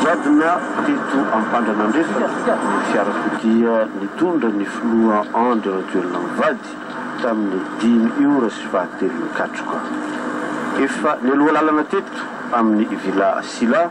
Nigadona teto Ampandranandrefana ny fiarakodia nitondra ny filoha Andry Rajoelina mivady tamin'ny dimy ora sy fahatelony katroka. Efa nialoha lalana teto amin'ny Villa Sylla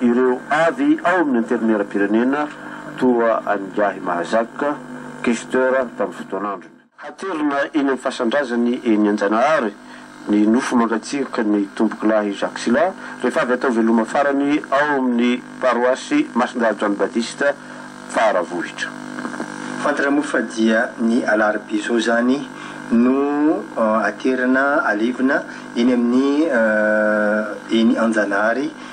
Ireo avy ao amin'ny Antenimierampirenena toa an'ingahy Mahazak, Questeur tamin'ny fotoan'androny. Haterina eny amin'ny fasan-drazany eny Anjanahary ny nofo mangatsiaky ny Tompokolahy Jacques Sylla rehefa avy atao veloma farany ao amin'ny paroasy Masindahy John Baptist Faravohitra. Fantatra moa fa dia ny alarobia izao izany no haterina alevina eny amin'ny eny Anjanahary